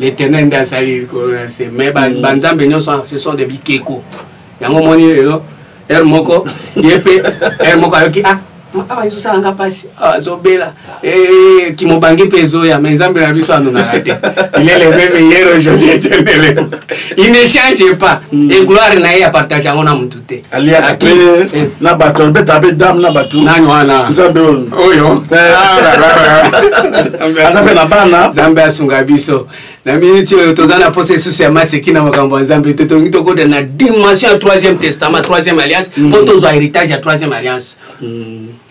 L'Éternel nde asali likolo na nse mais mm. banzambe nyonso ce sont des bikeko yango omoni lelo heure moko ye mpe heure moko ayoki ah awa ezosala nga mpasi ah, azobela eh, kimobange mpe ezoya mais nzambe na biso anonaka te il est le même hier aujourd'hui éternellement il ne change pas mm. et gloire na ye apartage yango na motu te aliaka pe eh. na bato abetaka mpe dame na bato nani wana nzambe oyo eh. ah, aza mpe na bana nzambe asunga biso na miniti oyo toza na mposa esusu ya maseki na makambo ya nzambe te tolingi tokoda na dimension ya troisième testament troisième alliance mpo mm. tozwa héritage ya troisième alliance mm.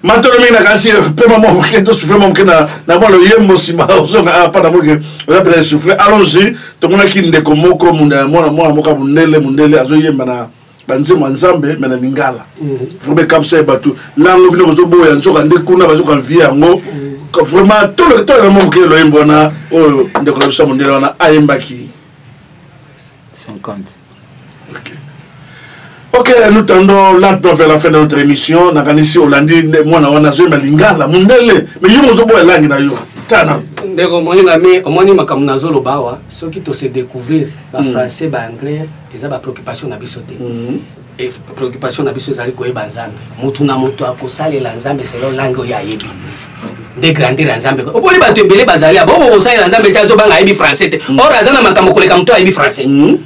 matolo mingi na kasi mpe mama moke tosufle mwa moke na mwa loyembo nsima ozonga apa na moke oza mpenza esufle allongi tomonaki ndeko moko mwana mwana moko ya mondele mondele azoyemba na banzembo ya nzambe me na lingala mm. vraimen kamsa ye bato lango bino bozoboya nzoka nde kuna bazoka vie yango mm. vraiment tolekitolema mwa moke loyembo wana oyo ndeko na biso ya mondele wana ayembaki 50 okay. ok nous tendons lentement vers la fin de notre émission nakanisi olandi mwana wana azoyemba lingala mondele mais yo mozoboya langi na yo tana ndeko omoni na me omoni makambo nazoloba awa soki tose découvrir bafrançais mm. baanglais eza bapréoccupation na biso te mm. e préoccupation na biso ezali koyeba nzambe motu na motu akosalela nzambe selo langi oyo ayebi nde grandeur ya nzambe oponi bato ebele bazali abo okokosalela nzambe te azobanga ayebi français te mm. or aza na makambo koleka moto ayebi français mm.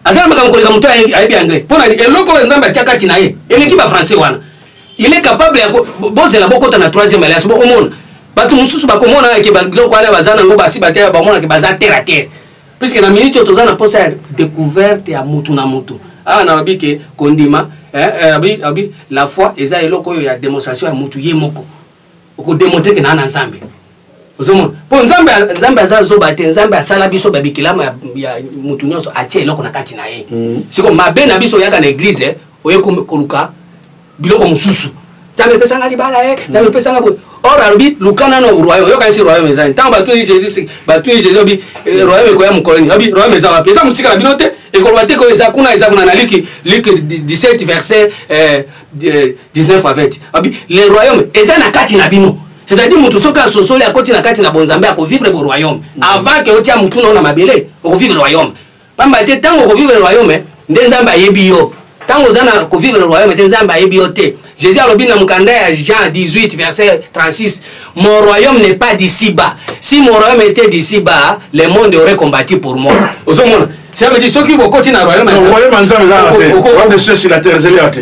aza na makambo koleka moto ayebi anglais mpo na eloko oyo nzambe atya kati na ye eleki bafrançais wana il est capable ya bozela bokota na troisième alliance bokomona bato mosusu bakomona ke biloko wana baza nango basi batela bamonake baza terre a terre puisque na minute oyo toza na mposa ya découverte ya mutu na mutu awa na babi ke kondima eh, eh, abi, abi la foi eza eloko oyo ya démonstration ya mutu ye moko okodemontre ke naa na nzambe ozomona mpo nzambe nzambe aza zoba te nzambe asala biso babikelamu ya, ya mutu nyonso atia eloko na kati na ye mm. siko mabe na biso oyaka na eglize eh, oye koluka biloko mosusu nzambe epesa nga libala e nzambe epesa nga boye or alobi luka nano royaume yokanisi royaume ezani ntango batuni jesus batuni jesus obi eh, royaume ekoya mokolo nini obi royaume eza wapi eza mosika na bino te ekoloba te koyo eza kuna eza kuna na liki liki 17 verset 19 eh, a 20 obi le royaume eza na kati na bino c'est-à-dire moto soki asosoli akoti na kati na bonzambe akovivre bo royaume mm. avant ke otia motuna o na mabele okovivre royaume pamba te ntango okovivre le royaume nde nzambe ayebi yo ntango oza na kovivre le royaume te nzambe ayebi yo te jésus alobi na mokanda ya jean 18 verset 36 mon royaume n'est pas d'ici bas si mon royaume était d'ici bas le monde aurait combattu pour moi ozomona ça veut dire soki bokoti na royaume ya nzambe eza na te royaume de ceci la terre ezali ya te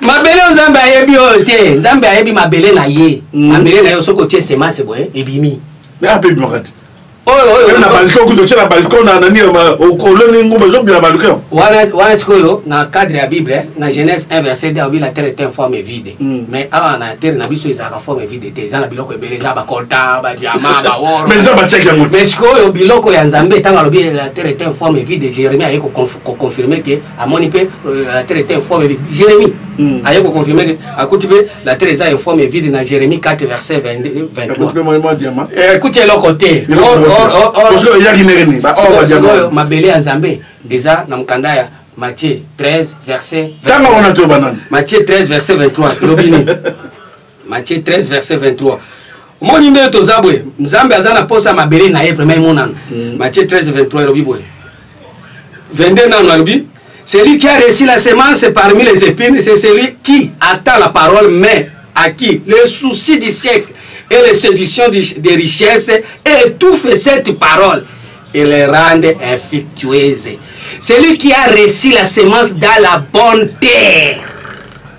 mabele oyo nzambe ayebi oyo te nzambe ayebi mabele na ye mm. mabele na ye soki otie semase boye ebimi ape ebimaka te oyo na balcon kutu otye na balcon na nani oloni ngumba ezobima na balcon wana sikoyo na cadre ya bible eh, na genèse 1 verset 2 obi la terre est un forme vide mm. mais awa na terre na biso ezalaka forme vide te eza na biloko ebele eza bacolta badiama baor mais sikoyo biloko ya nzambe ntango alobi la terre est un forme vide jérémie aye koconfo ko confirmer que amoni pe euh, la terre était informe vide Jérémie mm. aye ko confirmer que akuti pe la terre eza informe vide na Jérémie 4 verset 22 23 pe moi diamant eh kuti eloko te or or or parce que yaki neremi ba or diamant mabele ya Nzambe eza na mukanda ya Matthieu 13 verset 23 Matthieu 13 verset 23 lobini Matthieu 13 verset 23 omoni ndenge toza boye nzambe aza na posa mabele na ye vraimen emonana mm. matthieu 13 23 elobi boye 22 nano alobi celui qui a reçu la semence parmi les épines c'est celui qui attend la parole mais à qui le souci du siècle et les séductions des richesses étouffent cette parole et les rendent infectueuses celui qui a reçu la semence dans la bonne terre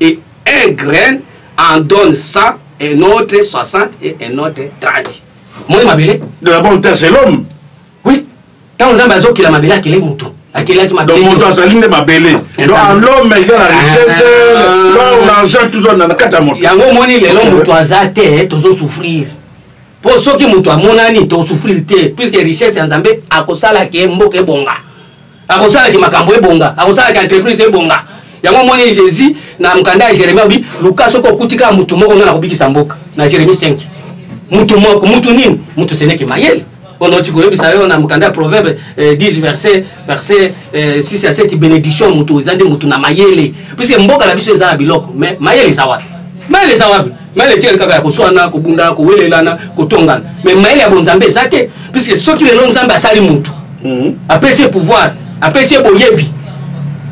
Et un grain en donne 100, un autre 60 et un autre 30. Moi, ma belle. De la bonne terre, c'est l'homme. Oui. Tant que vous avez la mabele, quel est mon tour akelaki mabele moto azali nde mabele l'homme eza na richesse ah. l'or l'argent toujours na kati ya moto yango omoni lelo moto aza te tozosouffrir mpo soki moto amonani tosouffrir te puisque richesse ya nzambe akosala ke mboka ebonga akosalaki makambo ebonga akosalaki entreprise ebonga yango omoni jésus na mokanda ya jérémi alobi luka soki okuti kaka motu moko ngai nakobikisa mboka na jérémi 5 motu moko motu nini motu seneki mayele ono ti koyebisa yo na mokanda ya proverbe 10 eh, verset verset 6 eh, ya 7 bénédiction motu eza nde motu na mayele puiske mboka na biso eza na biloko mais mayele eza wapi mayele eza wapi na letiele kaka ya kozwana kobundana kowelelana kotongana me mayele ya bonzambe eza te puiske soki lelo nzambe asali motu mhm. apesi ye pouvoir apesi ye boyebi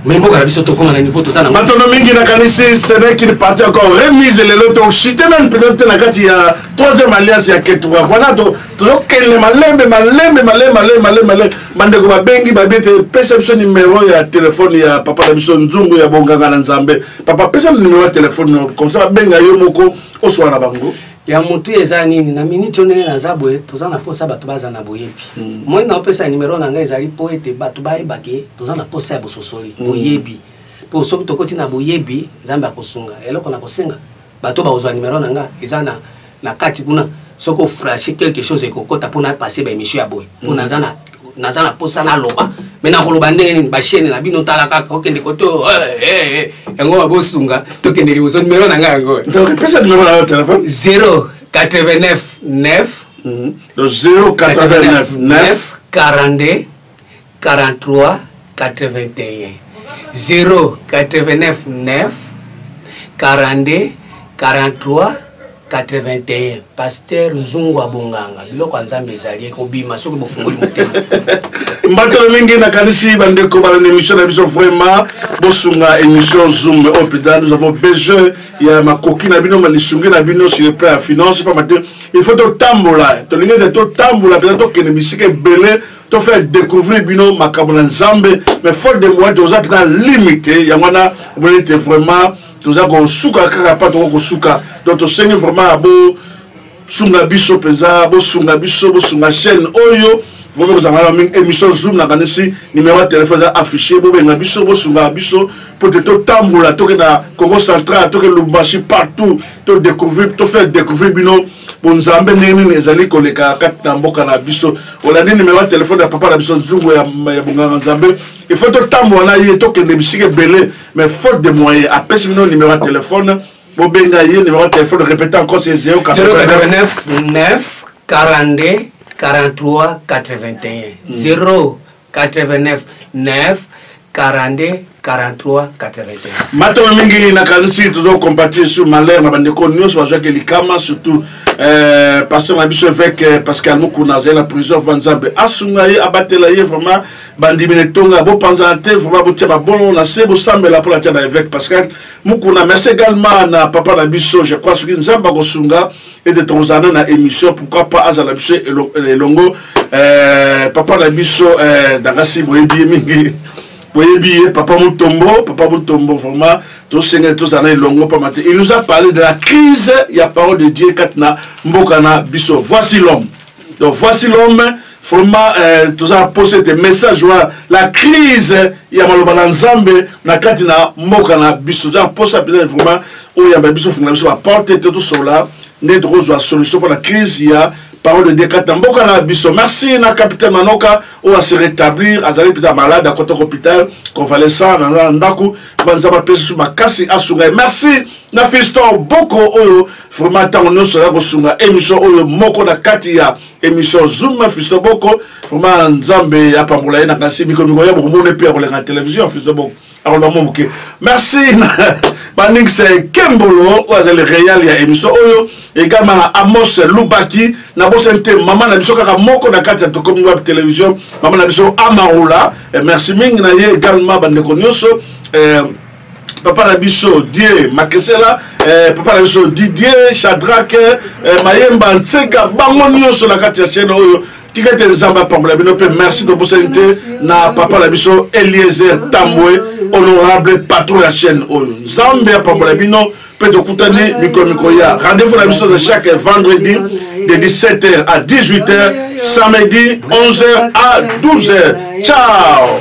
me mboka na biso tokoma na niveau toza nango matono mingi nakanisi seneki parti encore remise lelo toshite nani peut-être te na kati ya troisième alliance ya ketura voilà tozokende malembe malembe malembe malembe malembe malembe bandeko babengi babi ete pesa biso nimero ya telefone ya papa na biso nzungu ya bonganga na nzambe papa pesa nimero ya telefone no komsa babenga yo moko oswana bango ya motu eza nini na miniti oyo ndenge naza boye toza na mposa bato baza na boyebi mm. moi naopesa nimero na ngai ezali mpo ete bato bayebake toza na mposa ya bososoli mm. boyebi mpo soki tokoti na boyebi nzambe akosunga eloko na kosenga bato bakozwa numero na nga eza na, na kati kuna soki ofrache quelque chose ekokota mpo napase baémission ya boye mpo mm. naza na naza na mposa naloba me nakoloba ndenge nini bashene na bino tala kaka okende kote oh, eh, eh, eh. yango babosunga tokende liboso numero na ngai yango pesa numero na yo telefone 0 89 9 0 89 9 42 43 81 0 89 9 42 43 81 paster nzungu ya bonganga biloko ya nzambe ezali ekobima soki bofungoli motema mbatelo mingi nakanisi bandeko balanda émission na biso vraiment bosunga émission zoom oyo mpenza nous avons besoin ya makoki na bino malisungi na bino sur le plan ya finance mpamba te il faut totambola tolingi ete totambola mpenza tokende bisika ebele to faire découvrir bino makambo na nzambe mais faute de moyen toza mpena limite yango wana omoni ete vraiment toza kosuka kaka mpa toko kosuka donc tosengi vraiment ya bosunga biso mpenza bosunga biso bosunga chaîne oyo vraiment kozanga na mingi émission zoom nakanisi numéro ya telefone eza affiché bobenga biso bosungaka biso mpo te totambola toke na congo central toke lubumbashi partout to découvrir to faire découvrir bino bonzambe ndenge nini ezali koleka kati na mboka na biso olandi nimero ya telefone ya papa na biso nzungu ya bonganga nzambe ifo totambola na ye tokende bisika ebele mais faute de moyen apesi bino nimero ya telefone bobenga ye nimero ya telefone répéte encore c'est 089 9 42 43 81 0 89 9 42 43 81 matolo mingi nakanisi tozokompatir sur malheur na bandeko nyonso bazwaki likama surtout euh, pasteur na biso évêque euh, pascal mukuna azali na prison vraimen nzambe asunga ye abatela ye vraiment bandimi na etonga bopanzana te vraiment botia babolo na se bosambela mpo natia na évêque pascal mukuna merci également na papa na biso je crois soki nzambe akosunga ete tokozala na émission pourquoi pas azala biso elongo eh, papa na biso eh, dangasi boyebi ye mingi boyebi ye papa mutombo papa mutombo vraiment tosenga tozala na elongo mpamba te il nous a parlé de la crise ya parole de dieu kati na mboka na biso voici l'homme donc voici l'homme vraiment euh, toza na poso ete message wana la crise ya maloba na nzambe na kati na mboka na biso toza na poso ya mpenza vraiment oyo yamba biso fungola biso baporte ete tosola nde tokozwa solution mpo na crise ya parole de dieu kati na mboka na biso merci na capitaine manoka oyo ase rétablir azali mpenza malade akota hôpital convalescent na ndako banzambe apesi su makasi asunga ye merci na fiston boko oyo vraiment ntango nyonso ya kosunga émission oyo moko na kati ya émission zoom na fiston boko vraiment nzambe apambola ye na kasi mikomiko ya bokomona mpe ya koleka na télévision fiston boko akoloba mwa moke merci baningisa ekembolo oyo azali real ya émission oyo egalema na amos lubaki na bosani te mama na biso kaka moko na kati ya tokomi wapi télévision mama na biso amaula eh, merci mingi na ye egalema bandeko nyonso eh, papa na biso die makesela eh, papa na biso didier chadrake eh, mayemba nseka bango nyonso na kati ya chaine oyo tika ete nzambe apambola bino mpe merci tobosani te na papa na biso eliezer tambwe honorable patron ya chaine oyo nzambe apambola bino mpe tokutani mikolo mikoya rendez-vous na biso za chaque vendredi de 17h à 18h samedi 11h à 12h ciao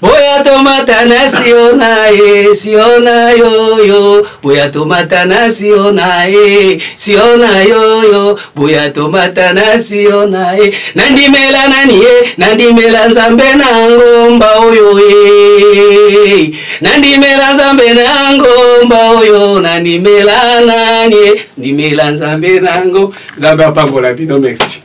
Boya tomata na Siona e, Siona yo yo. Boya tomata na Siona e, Siona yo yo. Boya tomata na Siona e. Nandimela nani e, nandimela Nzambe na ngomba oyo e. Nandimela Nzambe na ngomba oyo, nandimela nani e, ndimela Nzambe na ngo. Nzambe apambola bino, merci.